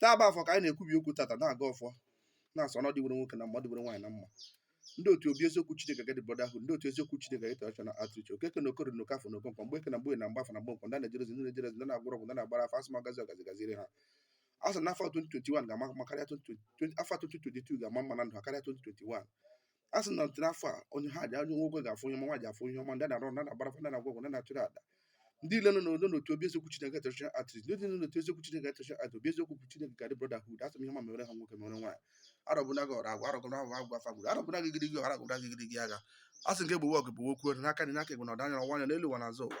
taa bụ afọ ka anyị na-ekwubi okwu tata na-agọ ọfọ na-asị ọnọdụ dịwere nwoke na mma dịwere nwaanyị na mma ndị otu obi eziokwu Chineke gadi brotherhood ndị otu eziokwu Chineke gadi traditional outreach okeke na okoro na okafọ na okonkwo mgbeke na mgborie na mgbafọ na mgbọnkwọ ndị na-ejere ozi ndị na-ejere ozi ndị na-agwọrọ ọgwụ ndị na-agbara afa asị m ọgazi ọgazi gaziri ha a sị na afọ 2021 ga-ama mma karịa 2020 afọ 2022 ga-ama mma na ndụ ha karịa 2021 a sị na ntiri afọ a onye ha ji onye nwoke ga-afụ ihe ọma nwaanyị afụ ihe ọma ndị na-arụ ndị na-agbara afa ndị na-agwọ ọgwụ ndị na-achụrụ aja ndị ile nọ n'odo n'otu obi eziokwu Chineke traditional outreach ndị nọ n'otu eziokwu Chineke traditional outreach obi eziokwu Chineke gadi brotherhood asị m ihe ọma mere ha nwoke mere nwaanyị arobinagu ọrụ agwa arobinagu agwa afa gburu arobinagu igirigi arobinagu igirigi agha a sị nke gbowe ọgụ bụ okwu n'aka dị n'aka egbe na ọdanya ọwa anya n'elu ụwa n'azụ ụwa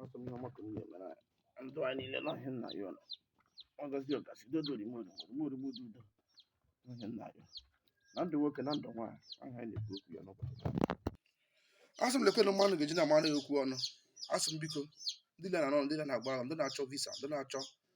Asị m ihe ọma ka ị na-emere anyị. Ndụ anyị niile na ihe nna ya ọnụ. Ọgazi ọgazi dodo rimo rimo rimo rimo dodo. Na ihe nna ya. Na ndụ nwoke na ndụ nwaanyị ahụ anyị na-ekwu okwu ya n'ụbọchị. Asị m lekwenụ mmanụ ga-eji na-amara ya okwu ọnụ. Asị m biko ndị na-anọ ndị na-agba ahụ ndị na-achọ visa ndị na-achọ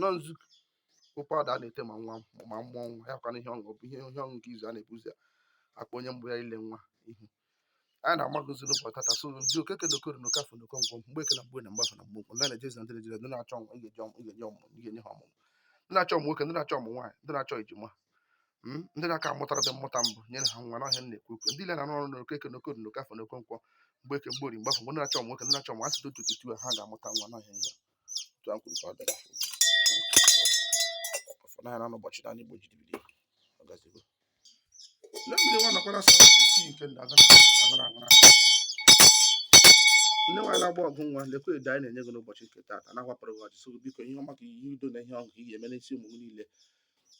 nọ nzukọ okwu ada na-ete ma nwa ma mmụọ nwa ya kwana ihe ọṅụ ihe ihe ọṅụ nke izu a na-ebu ụzọ akpọ onye mbụ ya ile nwa ihu anyị na-amagozi n'ụbọchị tata so ndị okeke na okoro na okafọ na okonkwọ mgbeke na mgborie na mgbafọ na mgbọnkwọ ndị na-ejezi na ndị na-ejezi ndị na-achọ ọmụ ị ga-eji ọmụ ị ga-enye ọmụ ị ga-enye ha ọmụmụ ndị na-achọ ọmụ nwoke ndị na-achọ ọmụ nwaanyị ndị na-achọ ejima mm, ndị na-aka amụtara dị mmụta mbụ nyere ha nwa n'ọhịa na-ekwu okwu ndị ile na-arụ ọrụ na okeke na okoro na okafọ na okonkwọ mgbeke mgborie mgbafọ mgbọnkwọ ndị na-achọ ọmụ nwoke ndị na-achọ ọmụ asị dị otu otu ha ga-amụta nwa n'ọhịa nyere otu a kwuru ka ọ dị n'ọfọ na na n'ụbọchị na n'igbo jiri bido ọ gazigo na mmiri nwa nakwara sọ isi nke ndị agara agara agara nne nwaanyị na-agba ọgụ nwa lekwa edo anyị na-enye gị n'ụbọchị nke taata na-awapụrụ gị ọjị so biko ihe ọma ka ihe udo na ihe ọṅụ ka ị ga-eme n'isi ụmụ gị niile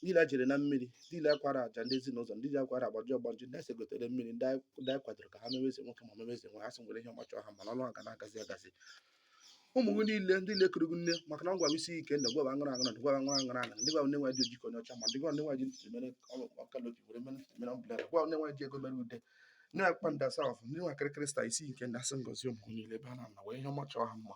ndị ile jere na mmiri ndị ile kwara aja ndị ezinụlọ ndị a kwara agbaji ọgbanje ndị ese gotere mmiri ndị a kwadoro ka ha meweze nwoke ma meweze nwaanyị asị m were ihe ọma chọọ ha mma na ọnụ aga na-agazi agazi ụmụ gị niile ndị lekere gị nne maka na ọ gwara isi ike ndị gwara aṅụrụ aṅụrụ ndị gwara aṅụrụ aṅụrụ aṅụrụ ndị gwara nne nwaanyị ojikọ onye ọcha ma ndị gwara nne nwaanyị ji ntụtụ mere ọkalobi were mere ntụtụ mere ọbụla gwara nne nwaanyị ji ego mere ude nne ya kpa ndị asafụ ndị nwa kịrịkịrị sta isi nke ndị asị ngozi ụmụ niile ebe ha nọ were ihe ọma chọọ ha mma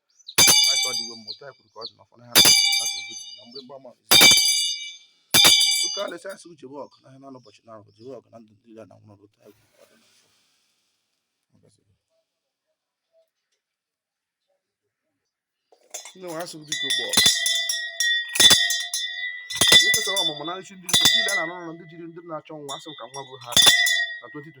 ndị nwe asụrụ dịka ụgbọ ekesara ọmụmụ na nchi ndị ndị na-arụ ọrụ ndị jiri ndị na-achọ nwa asị ka nwa bụ ha na 2020